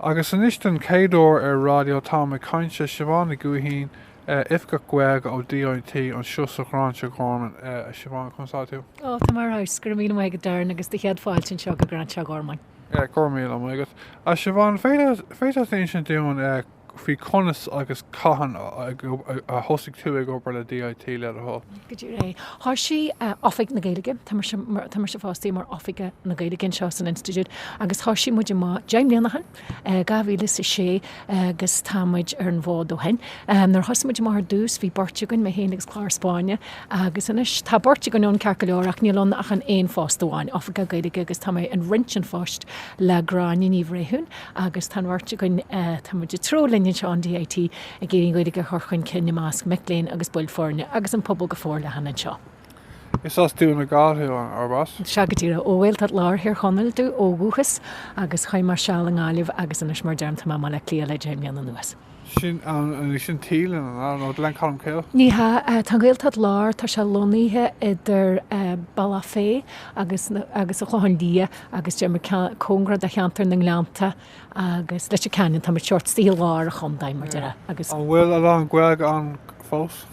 Agus anois den chéad uair ar Raidió táim ag caint le Siobhán Nic Gaoithín, Oifigeach Gaeilge ó DIT anseo sa Ghráinseach Ghormáin. A Siobhán, conas atá tú? Ó, tá mé ar fheabhas. Go raibh míle maith agat, Darren, agus tá céad fáilte anseo go Gráinseach Ghormáin. Go raibh míle maith agat. A Siobhán, an bhféadfá insint dúinn faoi conas agus cathain a thosaigh tú ag obair le DIT, le do thoil? Go díreach, thoisigh Oifig na Gaeilge, tá mise, tá mise fostaithe mar Oifigeach na Gaeilge anseo san Institiúid agus thoisigh muid amach, deich mbliana ó shin, dhá mhíle is a sé agus tá muid ar an bhfód ó shin. Nuair a thosaigh muid amach ar dtús bhí beirt againn, mé féin agus Clare Spáinneach agus anois tá beirt againn ann ceart go leor ach níl ann ach an aon phost amháin, Oifigeach Gaeilge agus tá mé ag roinnt an phoist le Gráinne Ní Bhréithiún. Agus tá an bheirt againn, tá muid ag treabhadh linn anseo in D.I.T. ag iarraidh an Ghaeilge a chur chun cinn i measc mic léinn agus baill foirne, agus an pobal go forleathan anseo. Is as Dún na Gall thú, arb ea? Sea, go díreach. Ó Ghaeltacht Láir Thír Chonaill domh ó dhúchas, agus chaith mé seal i nGaillimh agus anois, mar a deirim, tá mé i mBaile Átha Cliath le deich mbliana anuas. Sin an, sin Teelan, an ea? Nó Gleann Colmcille? Ní hea. Tá an Ghaeltacht Láir, tá sé lonnaithe idir Bealach Féich agus, agus An Clochán Liath agus deir muid cóngarach do cheantar na nGleannta agus Leitir Ceanainn, tá muid seort, istigh i lár an chontae muid, ar a, agus. An bhfuil a lán Gaeilge ann fós?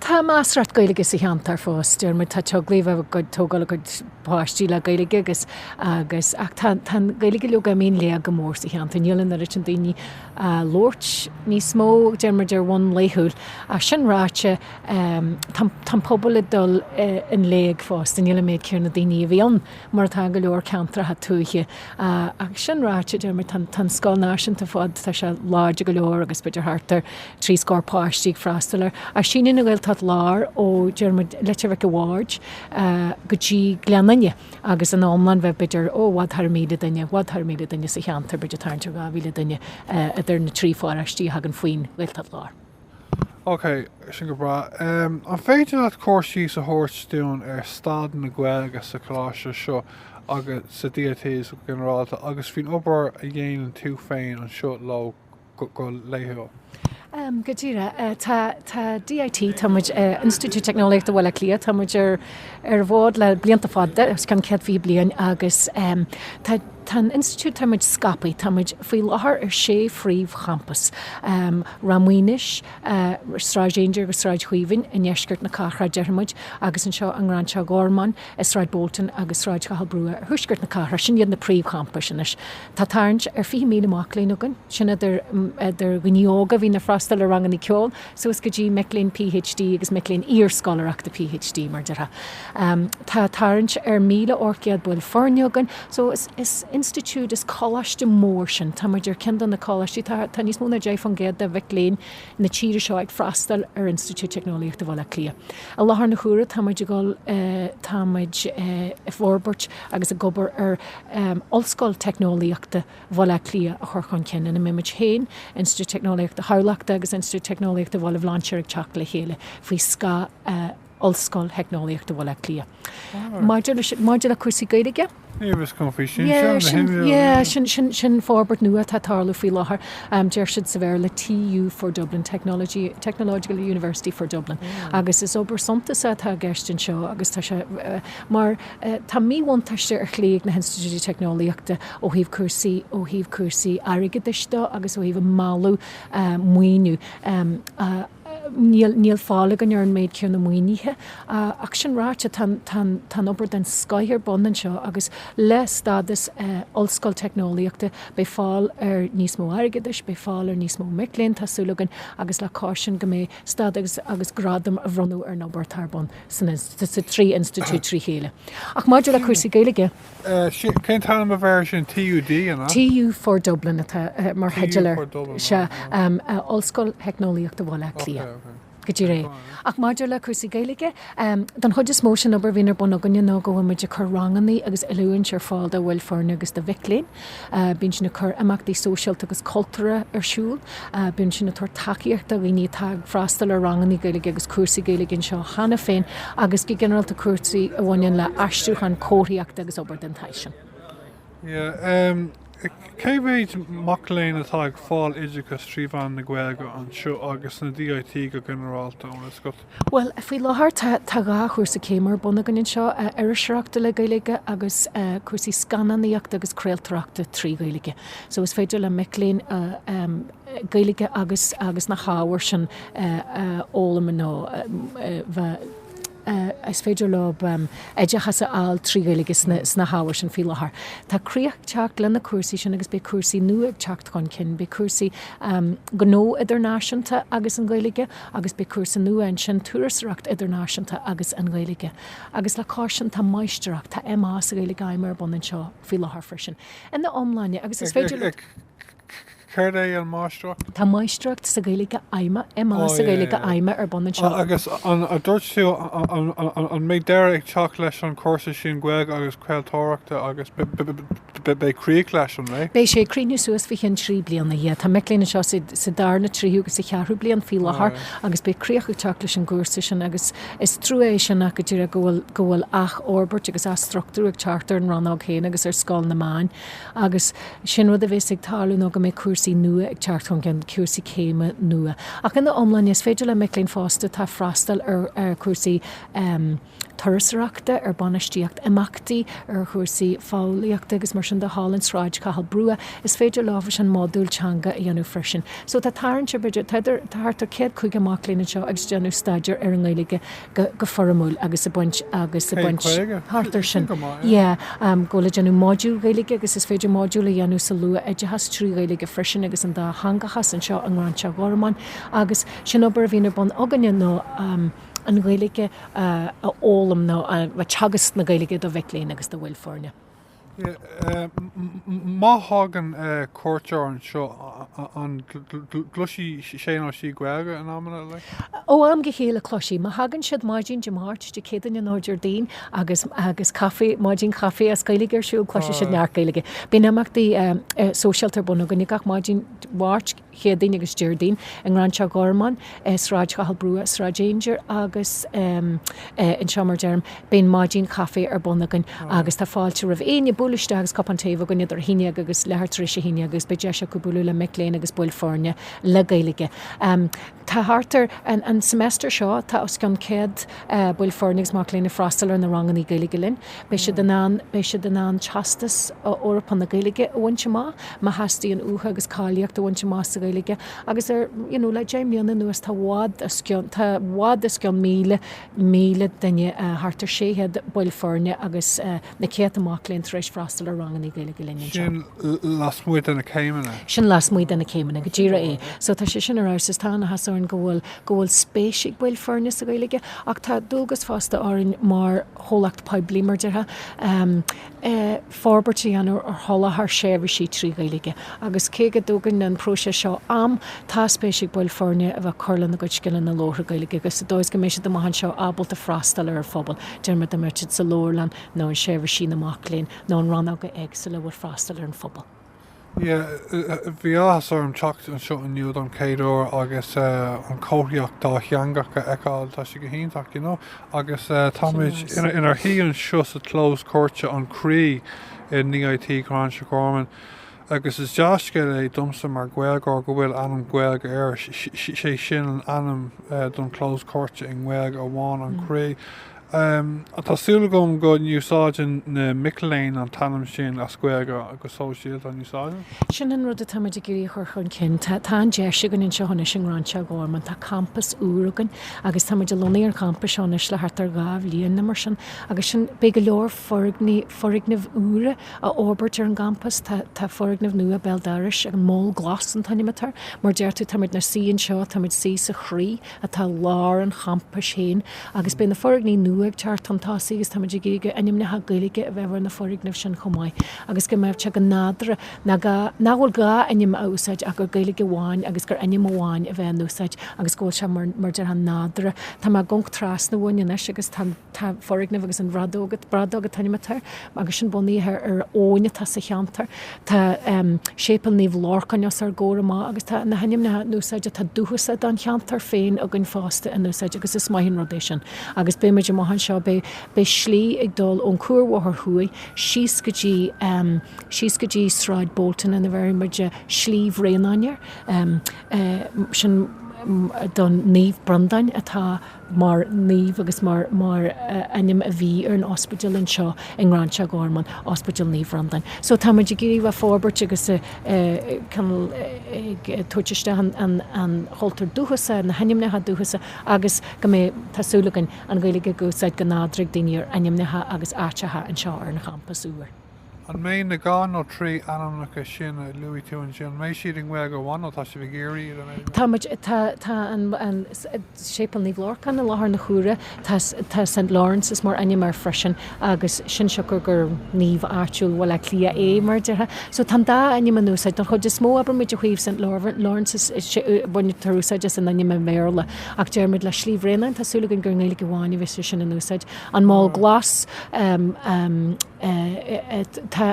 Tá measarthacht Gaeilge sa cheantar fós, deir muid. Tá teaglaigh ag tógáil a gcuid páistí le Gaeilge agus, agus, ach tá, tá an Ghaeilge, leoga, ag imeacht i léig go mór sa cheantar. Níl an oiread sin daoine á labhairt níos mó, deir muid, ar bhonn laethúil. Ach sin ráite, tá, tá an pobal ag dul i, i léig fosta. Níl an méid céanna daoine a bhí ann. mar atá i go leor ceantracha tuaithe. Ach sin ráite, deir mé, tá an scoil náisiúnta fós, tá sé láidir go leor agus b'fhéidir thart ar trí scór páistí ag freastal air. Ach síneann an Ghaeltacht Láir ó, deir muid, Leitir Mhic a' Bhaird go dtí Gleann Fhinne agus ina iomlán bheadh b'fhéidir, ó, i bhfad thar míle duine, i bhfad thar míle duine sa cheantar, b'fhéidir tarraingt ar dhá mhíle duine idir na trí pháráistí a thagann faoin Ghaeltacht Láir. Ok, sin go breá. An féidir leat cur síos a thabhairt dúinn ar staid na Gaeilge sa choláiste seo agus sa DIT go ginearálta agus faoin obair a dhéanann tú féin anseo leo go laethúil? Go díreach. Tá, tá DIT, tá muid, Institiúid Teicneolaíochta Bhaile Átha Cliath, tá muid ar, an bhfód le blianta fada, os cionn céad fiche bliain, agus tá, Tá an Institiúid, tá muid scaipthe, tá muid faoi láthair ar sé phríomh-champas, Ráth Maonais, Sráid Aungier agus Sráid Chaoimhín i ndeisceart na cathrach, déarfaidh muid, agus anseo i nGráinseach Ghormáin, i Sráid Bolton agus Sráid Chathail Brugha i dtuaisceart na cathrach, sin iad na príomh-champais anois. Tá tarraingt ar 20,000 mac léinn againn, sin idir dhaoine óga a bhíonn ag freastal ar ranganna ceoil, suas go dtí mic léinn PhD agus mic léinn iar-scoláireachta PhD, mar a déarfá. Tá tarraingt ar 1,000 ocht gcéad baill foirne againn, so is institiúid, is coláiste mór sinn. Tá muid ar ceann de na coláistí, tá tá níos mó ná deich fán gcéad de mhic léinn na tíre seo ag freastal ar Institiúid Teicneolaíochta Bhaile Átha Cliath. I láthair na huaire tá muid ag dul tá muid i bhforbairt agus ag obair ar Ollscoil Teicneolaíochta na. Bhaile Átha Cliath a chur chun cinn ina mbeimid féin, Institiúid Teicneolaíochta Thamhlachta agus Institiúid Teicneolaíochta Bhaile Bhlainséir ag teacht le chéile faoi scáth Ollscoil Theicneolaíochta Bhaile Átha Cliath. Maidir leis, maidir le cúrsaí Gaeilge, Ní raibh a fhios agam faoi sin, yeah, sin, sin, yeah, sin, sin, sin forbairt nua atá ag tarlú faoi láthair, um, deir siad sa Bhéarla TU for Dublin, Technology, Technological University for Dublin, yeah. agus is obair suntasach atá i gceist anseo agus tá sé uh, mar Tá míbhuntáiste ar shlí ag na hinstitiúidí teicneolaíochta ó thaobh cúrsaí ó thaobh cúrsaí airgeadais de agus ó thaobh mealladh maoiniú. Níl níl fáil againn ar an méid céanna maoinithe. Ach sin ráite, tá tá tá an-obair den scoth ar bun anseo agus le stádas ollscoil teicneolaíochta beidh fáil ar níos mó airgeadais, beidh fáil ar níos mó mic léinn, tá súil againn, agus le cois sin go mbeidh stádas agus gradam a bhronnadh ar an obair atá ar bun. sa trí institiúid trí chéile. Ach maidir le cúrsaí Gaeilge. Cén t-ainm a bheidh ar sin? TUD, an ea? TU for Dublin atá mar theideal air. Sea, Ollscoil Theicneolaíochta Bhaile Átha Cliath. Go díreach é. Ach maidir le cúrsaí Gaeilge, don chuid is mó, sé'n obair a bhíonn ar bun againne ná go bhfuil muid ag cur rangannaí agus oiliúint ar fáil do bhaill foirne agus do mhic léinn. Bíonn sinn ag cur imeachtaí sóisialta agus cultúrtha ar siúl. Bíonn sinn ag tabhairt tacaíochta do dhaoine atá ag freastal ar rangannaí Gaeilge agus cúrsaí Gaeilge anseo cheana féin agus go ginearálta cúrsaí a bhaineann le aistriúchán, comharthaíocht agus obair den tsaghas sin. Cé mhéid mac léinn atá ag fáil oideachas trí mheán na Gaeilge anseo agus sna DIT go ginearálta, ar oscailt? Bhuel, faoi láthair tá dhá chúrsa céime ar bun againn anseo, iriseoireacht le Gaeilge agus cúrsaí scannánaíochta agus craoltóireachta trí Ghaeilge. So is féidir le mic léinn Gaeilge agus agus na hábhair sin a fhoghlaim nó is féidir leo oideachas a fháil trí Ghaeilge sna hábhair sin faoi láthair. Tá críoch ag teacht leis na cúrsaí sin agus beidh cúrsaí nua ag teacht chun cinn. Beidh cúrsaí gnó idirnáisiúnta agus an Ghaeilge, Agus beidh cúrsa nua ansin, Turasóireacht Idirnáisiúnta agus an Ghaeilge. Agus le cois sin, tá Máistreacht, tá MA sa Ghaeilge Fheidhmeach ar bun anseo faoi láthair freisin. Ina iomláine, agus is féidir leat. Céard é an Máistreacht? Tá Máistreacht sa Ghaeilge Fheidhmeach, MA sa Ghaeilge Fheidhmeach ar bun anseo. Agus an dúirt tú, an mbeidh deireadh ag teacht leis an gcúrsa sin Gaeilge agus Craoltóireachta agus. Beidh críoch leis, an mbeidh? Beidh sé ag críochnú suas faoi cheann trí bliana, yeah. Tá mic léinn anseo sa darna, tríú agus sa cheathrú bliain faoi láthair agus beidh críoch ag teacht leis an gcúrsa sin agus is trua é sin ach go díreach go bhfuil, go bhfuil athfhorbairt agus athstruchtúrú ag teacht ar an rannóg féin agus ar Scoil na Meán agus sin rud a bhéas ag tarlú ná go mbeidh cúrsaí nua ag teacht chun cinn, cúrsaí céime nua. Ach ina iomláine, is féidir le mic léinn fosta atá atá freastal ar cúrsaí, Turasóireachta ar bainistíocht imeachtaí, ar chúrsaí fóillíochta agus mar sin de thall i Sráid Chathail Brugha. Is féidir leo an modúl teanga a dhéanamh freisin. So tá tarraingt ar b'fhéidir tá thart ar céad caoga mac léinn anseo ag déanamh staidéar ar an nGaeilge go go foirmiúil agus ag baint agus ag baint. Céad caoga? Thart air sin. Sin go maith, yeah. Yeah, um go bhfuil ag déanamh module Gaeilge agus is féidir module a dhéanamh sa luath-oideachas trí Ghaeilge freisin agus an dátheangachas anseo i nGráinseach Ghormáin agus sin obair a bhíonn ar bun againne nó, um, an Ghaeilge a fhoghlaim nó teagasc na Gaeilge do mhic léinn agus do bhaill foirne. Má thagann cuairteoir anseo, an gcloisfidh sé nó sí Gaeilge in amanna? Ó am go chéile, cloisfidh. Má thagann siad maidin Dé Máirt, Dé Céadaoin nó Déardaoin agus maidin caife as Gaeilge ar siúl, cloisfidh siad neart Gaeilge. Bíonn imeachtaí sóisialta ar bun againn gach maidin Mháirt, Chéadaoin agus Déardaoin i nGráinseach Ghormáin, i Sráid Chathail Brugha, i Sráid Aungier agus anseo mar a deirim. Bíonn maidin caife ar bun againn agus tá fáilte roimh éinne bualadh isteach agus cupán tae a bheith acu linn idir a haon déag agus leathuair tar éis a haon déag agus beidh deis acu bualadh le mic léinn agus baill foirne le Gaeilge. Tá thart ar, an semester seo, tá os cionn céad baill foirne agus mac léinn ag freastal ar na rangannaí Gaeilge linn. Beidh siad in ann, beidh siad in ann Teastas Eorpach na Gaeilge a bhaint amach, má theastaíonn uathu, agus cáilíocht a bhaint amach sa Ghaeilge. Agus ar, you know, le deich mbliana anuas, tá i bhfad os cionn, tá i bhfad os cionn míle, míle duine, thart ar sé chéad baill foirne agus, na céadta mac léinn tar éis freastal ar ranganna Gaeilge linn anseo. Sin lasmuigh de na céimeanna. Sin lasmuigh de na céimeanna, go díreach é. So tá sé sin ar fheabhas agus tá an-áthas orainn go bhfuil go bhfuil spéis ag baill foirne sa Ghaeilge ach tá dualgas fosta orainn mar chomhlacht poiblí, mar déarfá, forbairt a dhéanamh ar sholáthar seirbhísí trí Ghaeilge agus cé go dtógann an próiseas seo am, tá spéis ag baill foirne a bheith ag cur lena gcuid scileanna labhartha Gaeilge agus sa dóigh is go mbeidh siad amach anseo ábalta freastal ar an phobal. Déarfaimid dá mbeidís sa leabharlann nó in seirbhísí na mac léinn nó in rannóga éagsúla a bhfuil freastal ar an phobal. Yeah, bhí áthas orm teacht anseo inniu don chéad uair agus an chomharthaíocht dátheangach a fheiceáil, tá sé go hiontach, you know, agus táimid inár shuí anseo sa chlós cúirte, An Croí, i nDIT Ghráinseach Ghormáin. Agus is dea-scéal é domsa mar Ghaeilgeoir go bhfuil ainm Gaeilge air, sé sin an ainm don chlós cúirte i nGaeilge amháin, An Croí. Tá súil agam go n-úsáideann na mic léinn an t-ainm sin as Gaeilge go sóisialta, an úsáideann? Sin an rud atáimid ag iarraidh a chur chun cinn. Tá an deis againn anseo anois i nGráinseach Ghormáin, tá campas úr againn agus táimid ag lonnú ar an gcampas seo anois le thart ar dhá bhliain nó mar sin agus sin beidh go leor foirgneamh úra a fhorbairt ar an gcampas. Tá foirgneamh nua béal dorais, an Mol Glas an t-ainm atá air. Mar a deir tú, táimid inár suí anseo, táimid sa, sa Chroí atá i lár an champais féin agus beidh na foirgní nua ag teacht chun tosaigh agus táimid ag iarraidh ainmneacha Gaeilge a bheith ar na foirgnimh sin chomh maith agus go mbeadh sé go nádúrtha nach bhfuil gá ainm a úsáid ach gur Gaeilge amháin agus gur ainm amháin a bheith in úsáid agus go bhfuil sé mar déarfá nádúrtha. Tá mé ag amharc trasna uainn anois agus tá an. Tá foirgneamh agus an Bhradóg an t-ainm atá air, agus sin bunaithe ar abhainn atá sa cheantar. Tá Séipéal Naomh Lorcáin os ár gcomhair amach agus tá na hainmneacha in úsáid atá dúchasach don cheantar féin againn fosta in úsáid agus is maith an rud é sin. Agus beidh muid amach anseo, beidh, beidh slí ag dul ón Cuarbhóthar Thuaidh síos go dtí, síos go dtí Sráid Bolton agus bhéarfaidh muid Slí Bhreandáin air. Sin don Naomh Breandán atá. mar naomh agus mar ainm a bhí ar an ospidéal anseo i nGráinseach Gormáin, Ospidéal Naomh Bhreandáin. So tá muid ag iarraidh a fhorbairt agus ag tabhairt isteach an chultúir dúchasaigh, na hainmneacha dúchasacha agus go mbeidh, tá súil againn, an Ghaeilge in úsáid go nádúrtha ag daoine ar ainmneacha agus áiteacha anseo ar an champas úr. An mbeidh na dhá nó trí ainmneacha sin a luaigh tú ansin, an mbeidh siad i nGaeilge amháin nó tá sibh ag iarraidh iad a bheith i nGaeilge? Táimid, tá, tá an, an, Séipéal Naomh Lorcán i láthair na huaire, tá, tá St Lawrence mar ainm air freisin agus sin siocair gur naomh áitiúil Bhaile Átha Cliath é, mar a déarfá. So tá an dá ainm in úsáid. Don chuid is mó, abraimis, ó thaobh St Lawrence, baintear úsáid as an ainm i mBéarla, ach déarfaimid le Slí Bhreandáin, tá súil againn gur i nGaeilge amháin a bheidh sé sin in úsáid. An Mol Glas, tá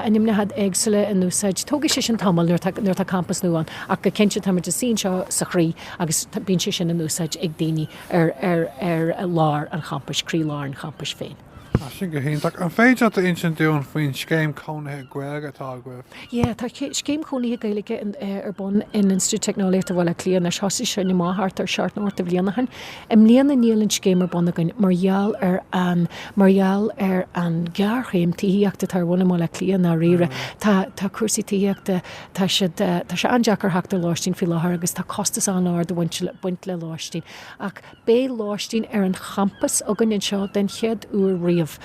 ainmneacha éagsúla in úsáid. Tógfaidh sé sin tamall nuair atá campas nua ann ach go cinnte táimid ag suí anseo sa Chroí agus bíonn sé sin in úsáid ag daoine ar lár an champais, croí lár an champais féin. Tá sin go hiontach. An féidir leat a insint dúinn faoin scéim cónaithe Gaeilge atá agaibh? Yeah, tá scéim cónaithe Gaeilge ar bun in Institiúid Teicneolaíochta Bhaile Átha Cliath anois. Thosaigh sé, ó, thart ar seacht nó ocht de bhliana ó shin. I mbliana níl an scéim ar bun againn mar gheall ar an, mar gheall ar an ghéarchéim tithíochta atá ar bun i mBaile Átha Cliath i ndáiríre. Tá, tá cúrsaí tithíochta, tá siad, tá sé an-deacair theacht ar lóistín faoi láthair agus tá costas an-ard ag baint le lóistín. Ach beidh lóistín ar an champas againn anseo den chéad uair riamh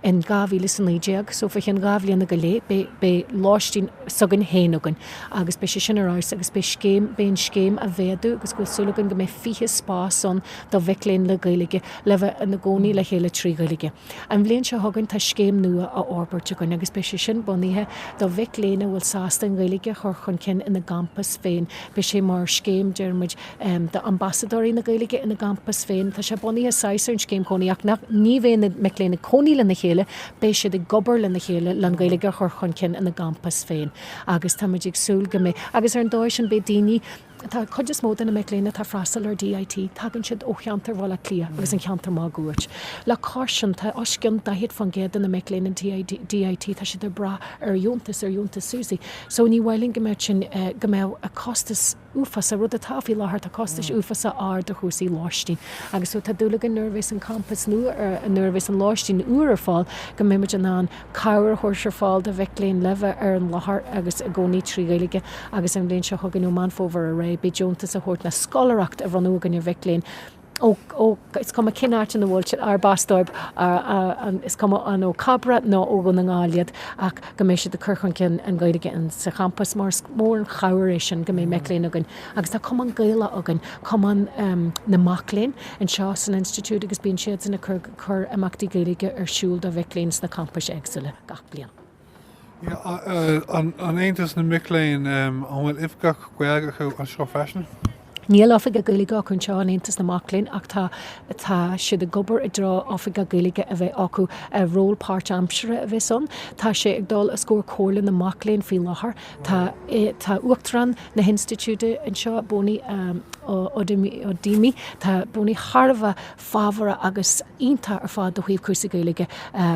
in dhá mhíle is a naoi déag. So faoi cheann dhá bhliana go leith beidh, beidh lóistín s'againn féin againn. agus beidh sé sin ar fheabhas agus beidh scéim, beidh an scéim á mhéadú agus go bhfuil súil againn go mbeidh 20 spás ann do mhic léinn le Gaeilge le bheith ina gcónaí le chéile trí Ghaeilge. An bhliain seo chugainn tá scéim nua á fhorbairt againn agus beidh sé sin bunaithe do mhic léinn a bhfuil sásta an Ghaeilge a chur chun cinn ina gcampas féin. Beidh sé mar scéim, deir muid, d'ambasadóirí na Gaeilge ina gcampas féin. Tá sé bunaithe saghas ar an scéim cónaí ach nach, ní bheidh na mic léinn ag cónaí lena chéile, beidh siad ag obair lena chéile le an Ghaeilge a chur chun cinn ina gcampas féin. Agus tá muid ag súil go mbeidh. Agus ar an dóigh sin beidh daoine, tá an chuid is mó de na mic léinn atá ag freastal ar D.I.T. tagann siad ó cheantar Bhaile Átha Cliath agus an cheantar máguaird. Le cois sin tá os cionn 40% de na mic léinn in D.I.T. tá siad ag brath ar dheontas, ar dheontas Susi. So ní mhaith linn go mbeadh sin, go mbeadh an costas, uafásach, rud atá faoi láthair. Tá costais uafásacha ar chúrsaí lóistín agus so tá dúil againn nuair a bheas an campas nua ar, nuair a bheas an lóistín úr ar fáil, go mbeidh muid in ann cabhair a chur ar fáil do mhic léinn le bheith ar an láthair agus ina gcónaí trí Ghaeilge agus an bhliain seo chugainn ó Meán Fómhair ar aghaidh beidh deontas á thabhairt nó scoláireacht á bronnadh againn ar mhic léinn ó, is cuma cén áit ina bhfuil siad, arb as dóibh, is cuma an ó Cabra nó ó Dhún na nGall iad, ach go mbeidh siad ag cur chun cinn na Gaeilge sa champas, mar is mór an chabhair é sin go mbeidh mic léinn againn, agus tá Cumann Gaelach againn, cumann na mac léinn anseo san Institiúid, agus bíonn siadsan ag cur imeachtaí Gaeilge ar siúl do mhic léinn sna campais éagsúla gach bliain. An Aontas na Mic Léinn, An bhfuil Oifigeach Gaeilge acu anseo freisin? Níl Oifigeach Gaeilge acu anseo in Aontas na Mac Léinn ach tá tá siad ag obair i dtreo Oifigeach Gaeilge a bheith acu. Ról páirt-aimsire a bheas ann. Tá sé ag dul os comhair Comhairle na Mac Léinn faoi láthair. Tá tá Uachtarán na hInstitiúide anseo, Boni Odoemene. Tá Boni thar a bheith fabhrach agus iontach ar fad ó thaobh cúrsaí Gaeilge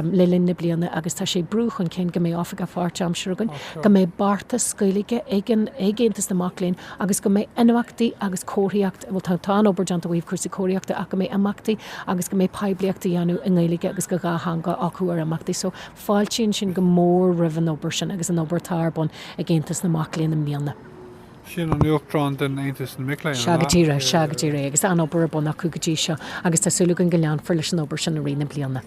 le linn na bliana agus tá sé ag brú chun cinn go mbeidh Oifigeach pháirtaimseartha againn, go mbeidh beartas Gaeilge ag Aontas na Mac Léinn agus go mbeidh imeachtaí agus comharthaíocht, bhuel tá an-obair déanta ó thaobh cúrsaí comharthaíochta ach go mbeidh imeachtaí agus go mbeidh poiblíocht á dhéanamh i nGaeilge agus go dhátheangach acu ar imeachtaí. So fáiltímse go mór roimh an obair sin agus an obair atá ar bun ag Aontas na Mac Léinn i mbliana. Sin an Uachtarán den Aontas na Mic Léinn, an ea? Sea go díreach, sea go díreach. Agus an-obair ar bun acu go dtí seo agus tá súil againn go leanfar leis an obair sin i rith na bliana.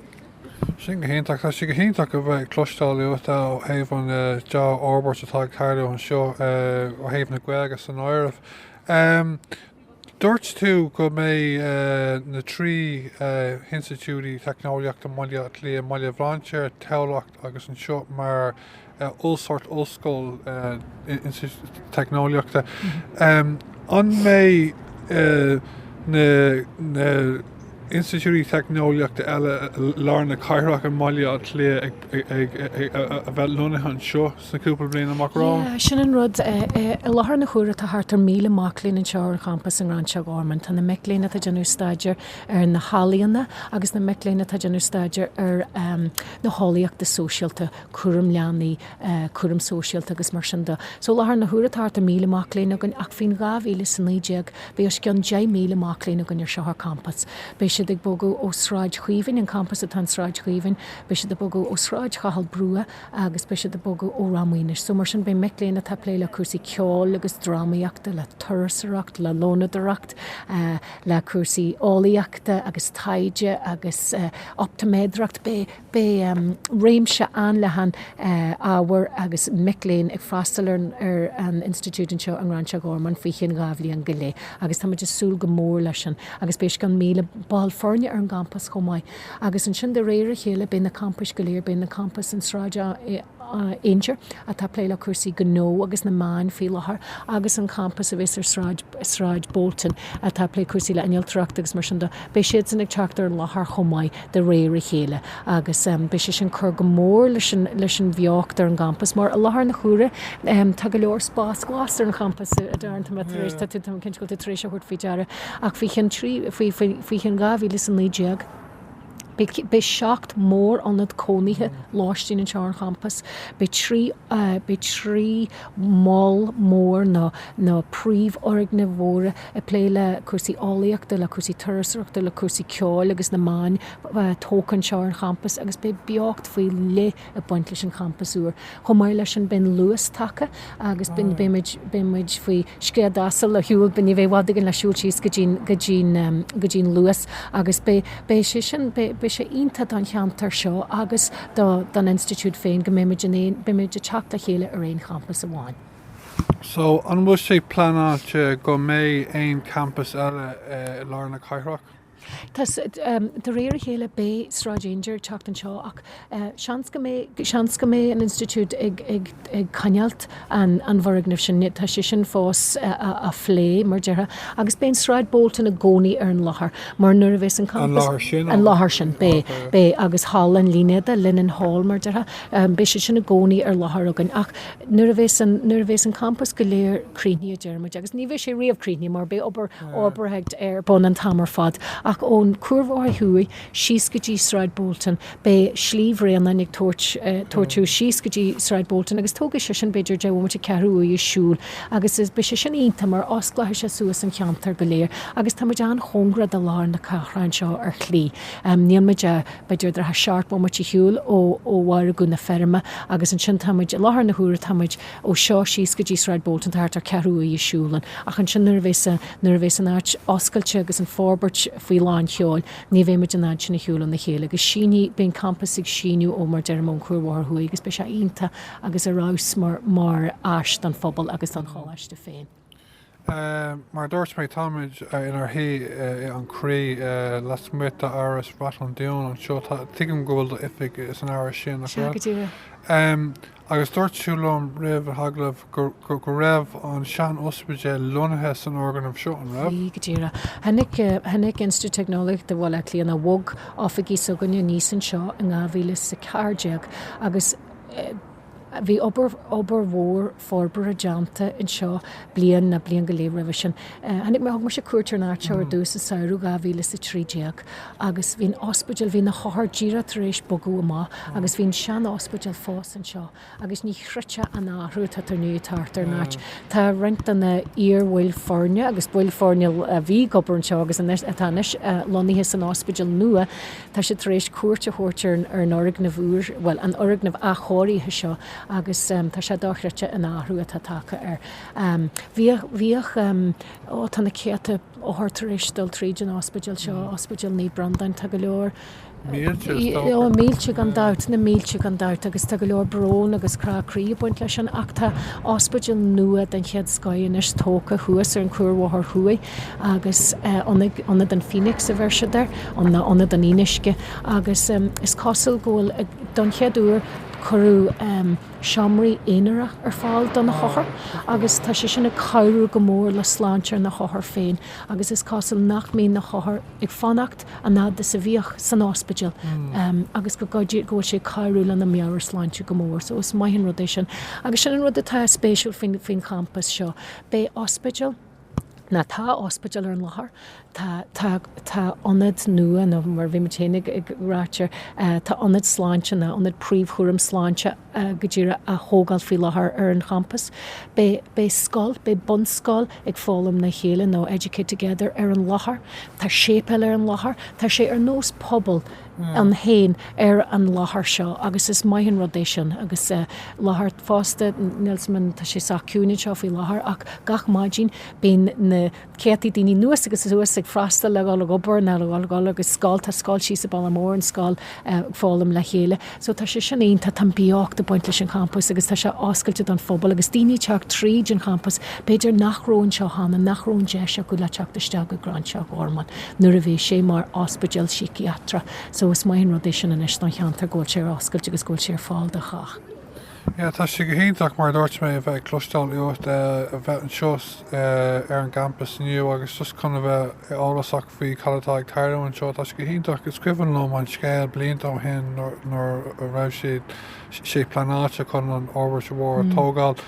Sin go hiontach. Tá sé go hiontach a bheith ag cloisteáil uait ó thaobh an deá-fhorbairt atá ag tarlú anseo ó thaobh na Gaeilge san áireamh. Dúirt tú go mbeidh na trí hinstitiúidí teicneolaíochta i mBaile Átha Cliath, mBaile Bhlainséir, Tamhlacht agus anseo, mar oll sórt ollscoil teicneolaíochta. An mbeidh na hinstitiúidí teicneolaíochta eile i lár na cathrach i mBaile Átha Cliath ag bheith lonnaithe anseo? sna cúpla bliain amach romhainn. Yeah, sin an rud. I láthair na huaire tá thart ar 1,000 mac léinn anseo ar an gcampas i nGráinseach Ghormáin. Tá na mic léinn atá ag déanamh staidéir ar na healaíona agus na mic léinn atá ag déanamh staidéir ar na heolaíochta sóisialta, cúram leanaí, cúram sóisialta agus mar sin de. So i láthair na huaire tá thart ar 1,000 mac léinn againn ach faoin 2019 beidh os cionn 10,000 mac léinn againn anseo ar campas. Beidh siad ag bogadh ó Sráid Chaoimhín, an campas atá in Sráid Chaoimhín, beidh siad ag bogadh ó Sráid Chathail Brugha, agus beidh siad ag bogadh ó Ráth Maonais. So, mar sin, beidh mic léinn atá ag plé le cúrsaí ceoil agus drámaíochta, le turasóireacht, le lónadóireacht, le cúrsaí eolaíochta agus taighde agus optaiméadracht, beidh réimse an-leathan ábhar agus mic léinn ag freastal ar an institiúid anseo i nGráinseach Ghormáin faoi cheann dhá bhliain go leith agus táimid ag súil go mór leis sin. Agus beidh os cionn 1,000 ball foirne ar an gcampas chomh maith. Agus ansin de réir a chéile beidh na campais go léir, beidh na campais in Sráid Aungier atá ag plé le cúrsaí gnó agus na meáin faoi láthair agus an campas a bhíos ar Sráid Bolton atá ag plé cúrsaí le innealtóireacht agus mar sin de, beidh siadsan ag teacht ar an láthair chomh maith de réir a chéile agus beidh sé sin cur go mór leis an bheocht ar an gcampas mar i láthair na huaire tá go leor spás glas ar an gcampas a déarfainn, tá mé cinnte go bhfuil tú tar éis a thabhairt faoi deara. Ach faoi cheann trí, faoi, faoi, faoi cheann dhá mhíle is a naoi déag, beidh, beidh seacht mór-ionad cónaithe lóistín anseo ar an champas, beidh trí, beidh trí mhol mór nó, nó príomhfhoirgnimh mhóra ag plé le cúrsaí eolaíochta, le cúrsaí turasóireachta, le cúrsaí ceoil agus na meáin, tógtha anseo ar an champas agus beidh beocht faoi leith, ag baint leis an champas úr. Chomh maith leis sin, beidh an Luas tagtha agus beidh muid faoi scread asail le siúl, ní bheidh i bhfad againn le siúl síos go dtí an Luas agus beidh sé sin, beidh sé iontach don cheantar seo agus don institiúid féin go mbeidh muid in aon, beidh muid ag teacht le chéile ar aon champas amháin. So, an bhfuil sé pleanáilte go mbeidh aon champas eile i lár na cathrach? Tá, de réir a chéile. Beidh Sráid Aungier ag teacht anseo ach seans go mbeidh, seans go mbeidh an Institiúid ag coinneáilt an bhfoirgnimh sin. Tá sé sin fós le plé, mar déarfá. Agus beidh Sráid Bolton i gcónaí ar an láthair mar nuair a bheas an campas, an láthair sin, an láthair sin, beidh, beidh agus Halla an Línéadaigh, Linen Hall, mar déarfá, beidh siad sin i gcónaí ar láthair againn. Ach nuair a bheas an, nuair a bheas an campas go léir críochnaithe, a deir muid, agus ní bheidh sé riamh críochnaithe mar beidh obair, fhorbartha ar bun an t-am ar fad, ach ón Chuarbhóthar Thuaidh síos go dtí Sráid Boulton, beidh Slí Bhréanainn ag tabhairt tabhairt thú síos go dtí Sráid Boulton agus tógfaidh sé sin b'fhéidir deich bhomaite, ceathrú uaire ag siúl agus beidh sé sin iontach mar osclóidh sé suas an cheantar go léir agus táimid an-chóngarach do lár na cathrach anseo ar shlí. Níl muid ach, b'fhéidir dhá, seacht bhomaite shiúil ó Mhargadh na Feirme agus ansin táimid, i láthair na huaire táimid, ó seo síos go dtí Sráid Bolton tá thart ar cheathrú uaire siúil ann, ach ansin nuair a bheas an, nuair a bheas an áit oscailte agus an fhorbairt faoi lán sheoil, beidh muid in ann sin a shiúl lena chéile agus sínfidh, beidh an campas ag síneadh ó, mar a deirim, ón Cuarbhóthar Thuaidh agus beidh sé iontach agus ar fheabhas mar, mar áis don phobal agus don choláiste féin. Mar a dúirt mé, táimid inár shuí i An Croí, lasmuigh d'Áras Ráth an Dúin anseo. Tuigim go bhfuil do oifig san Áras sin, nach bhfuil? Sea, go díreach. Agus dúirt tú liom roimh an agallamh go raibh an sean-ospidéal lonnaithe san fhoirgneamh seo, an raibh? Bhí, go díreach. Tháinig Institiúid Teicneolaíochta Bhaile Átha Cliath, nó bhog, oifigí s'againne aníos anseo in 2014 agus, Bhí obair mhór forbartha déanta anseo bliain ná bliain go leith roimhe sin. Tháinig mé, thug mise cuairt ar an áit seo ar dtús sa samhradh 2013 agus bhí an ospidéal, bhí na hothair díreach tar éis bogadh amach agus bhí an sean-ospidéal fós anseo agus ní chreidteá an athrú atá tar éis teacht ar an áit. Tá roinnt de na iar-bhaill foirne agus baill foirne a bhí ag obair anseo agus atá anois lonnaithe san ospidéal nua, Tá siad tar éis cuairt a thabhairt ar an fhoirgneamh úr, bhuel, an fhoirgneamh athchóirithe seo agus tá sé dochreidte an athrú atá tagtha air. Bhíodh, bhíodh, ó tá na céadta othar tar éis dul tríd an ospidéal seo, Ospidéal Naomh Breandán, tá go leor, Mílte is dócha. Ó, mílte gan dabht, na mílte gan dabht agus tá go leor brón agus crá croí ag baint leis sin ach tá ospidéal nua den chéad scoth anois tógtha thuas ar an Chuarbhóthar Thuaidh, agus Ionad an Phoenix a bheir siad air, nó Ionad an Fhíonuisce, agus is cosúil go bhfuil, don chéad uair, cuireadh seomraí aonara ar fáil do na hothair, agus tá sé sin ag cabhrú go mór le sláinte na n-othar féin, agus is cosúil nach mbíonn na hothair ag fanacht an fhad is a bhíodh san ospidéal, agus go bhfuil sé ag cabhrú lena meabhairshláinte go mór, so is maith an rud é sin. Agus sin an rud atá spéisiúil faoin champas seo. Beidh ospidéal. Nó tá ospidéal ar an láthair, tá, tá, tá ionad nua, nó mar a bhí muid féin ag, ag ráit air, tá ionad sláinte nó ionad príomhchúram sláinte go díreach á thógáil faoi láthair ar an gcampas. Beidh, beidh scoil, beidh bunscoil ag Foghlaim le Chéile nó Educate Together ar an láthair. Tá séipéal ar an láthair. Tá sé ar nós pobal. ann féin ar an láthair seo agus is maith an rud é sin agus láthair fosta, Nelson, tá sé sách ciúin anseo faoi láthair ach gach maidin bíonn na céadta daoine anuas agus suas ag freastal, ag dul ag obair nó ag dul ag dul ag scoil, tá scoil thíos sa Bhaile Mór, an scoil, ag foghlaim le chéile so tá sé sin iontach, tá an-bheocht ag baint leis an champas agus tá sé oscailte don phobal agus daoine ag teacht tríd an champas b'fhéidir nach raibh anseo cheana, nach raibh an deis acu le teacht isteach go Gráinseach Ghormáin. nuair a bhí sé mar ospidéal síciatrach so is maith an rud é sin anois don cheantar go bhfuil sé ar oscailt agus go bhfuil sé ar fáil do chách. Yeah, tá sé go hiontach, mar a dúirt mé, a bheith ag cloisteáil uait, a bheith anseo ar an gcampas inniu agus just chun a bheith eolasach faoi cad atá ag tarlú anseo, tá sé go hiontach. Is cuimhin liom an scéal blianta ó shin nuair a raibh siad. ag pleanáil chun an fhorbairt mhór a thógáil.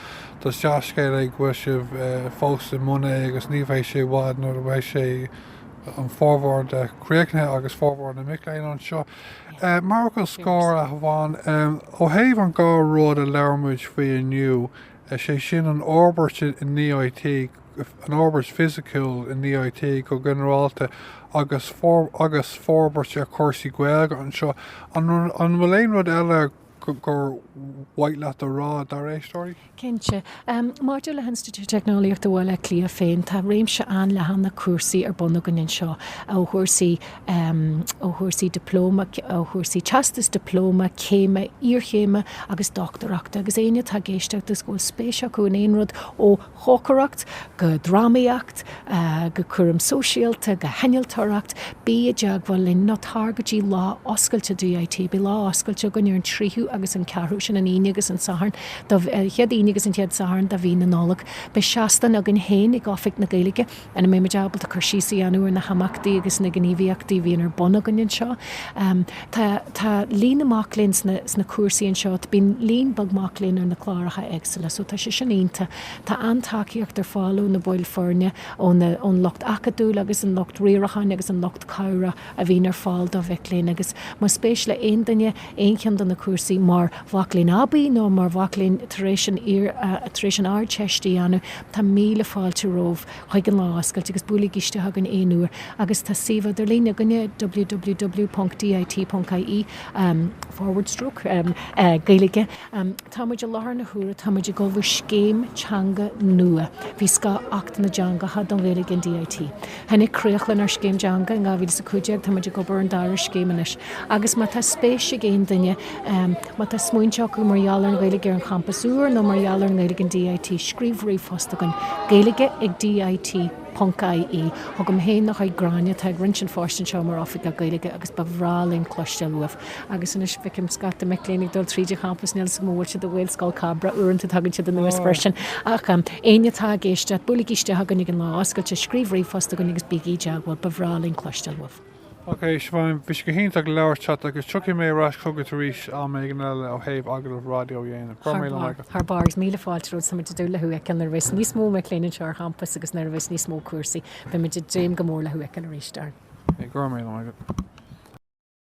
Is dea-scéal é go bhfuil sibh fós i mbun é agus ní bheidh sé i bhfad nuair a bheidh sé, an formhór de, críochnaithe agus formhór na mic léinn anseo mar fhocal scoir amháin. Ó thaobh an dhá rud a labhair muid faoi inniu, sé sin an fhorbairt in DIT, an fhorbairt fisiciúil in DIT go ginearálta agus agus forbairt ar chúrsaí Gaeilge anseo. An an bhfuil aon rud eile gur mhaith leat a rá, dár n-éisteoirí? Cinnte. Maidir le hInstitiúid Teicneolaíochta Bhaile Átha Cliath féin, tá réimse an-leathan de chúrsaí ar bun againn anseo, ó chúrsaí ó chúrsaí dioplóma, ó chúrsaí teastas dioplóma, céime, iarchéime agus dochtúireachta, agus éinne atá ag éisteacht agus go bhfuil spéis acu in aon rud ó. chócaireacht go drámaíocht go cúram sóisialta go hinnealtóireacht, bí i dteagmháil linn nó tar go dtí Lá Oscailte DIT. Beidh lá oscailte againn ar an 3ú agus an 4ú, sin an Aoine agus an Satharn, an chéad Aoine agus an chéad Satharn de mhí na Nollag. Beidh seastán againn féin ag Oifig na Gaeilge. A mbeimid ábalta cur síos a dhéanamh ar na himeachtaí agus na gníomhaíochtaí a bhíonn ar bun againn anseo? Tá líon na mac léinn sna cúrsaí anseo, bíonn líon beag mac léinn ar na cláracha éagsúla so tá sé sin iontach. Tá an-tacaíocht ar fáil ó na baill foirne, ón lucht acadúil agus an lucht riaracháin agus an lucht cabhrach a bhíonn ar fáil do mhic léinn agus más spéis le haon duine aon cheann de na cúrsaí mar mhac léinn aibí nó mar mhac léinn tar éis an Ardteist a dhéanamh, Tá míle fáilte romhaibh chuig an Lá Oscailte agus buailigí isteach chugainn aon uair agus tá suíomh idirlín againne, www ponc dit ponc ie, forward stroke, gaeilge. Tá muid i láthair na huaire, tá muid ag ullmhú scéim teanga nua, faoi scáth Acht na dTeangacha don Ghaeilge in DIT. Tháinig críoch lenár scéim teanga in 2015, táimid ag obair ar an dara scéim anois agus má tá spéis ag aon duine, má tá smaointe acu mar gheall ar an Ghaeilge ar an champas úr nó mar gheall ar an nGaeilge in DIT, scríobh ríomhphost chugainn, gaeilge ag dit ponc ie. chugam féin nó chuig Gráinne atá ag roinnt an phoist anseo mar Oifigeach Gaeilge agus ba bhreá linn cloisteáil uaibh. Agus anois feicim scata mic léinn ag dul tríd an champas, níl 'fhios agam an bhfuil siad i nGaelscoil Cabrach, uaireanta tagann siad anuas freisin. Ach éinne atá ag éisteacht, buailigí isteach chugainn ag an Lá Oscailte, scríobh ríomhphost chugainn agus bígí i dteagmháil, ba bhreá linn cloisteáil uaibh. Ok Siobhán, bhí sé go hiontach labhairt leat agus tiocfaidh mé ar ais chugat arís am éigin eile ó thaobh agallamh raidió a dhéanamh. Go raibh míle maith agat. Thar barr, agus míle fáilte romhat, táimid ag dúil le thú a fheiceáil nuair a bheas níos mó mic léinn anseo ar champas agus nuair a bheas níos mó cúrsaí, beimid ag dréim go mór le thú a fheiceáil arís, Aaron. Go raibh míle maith agat.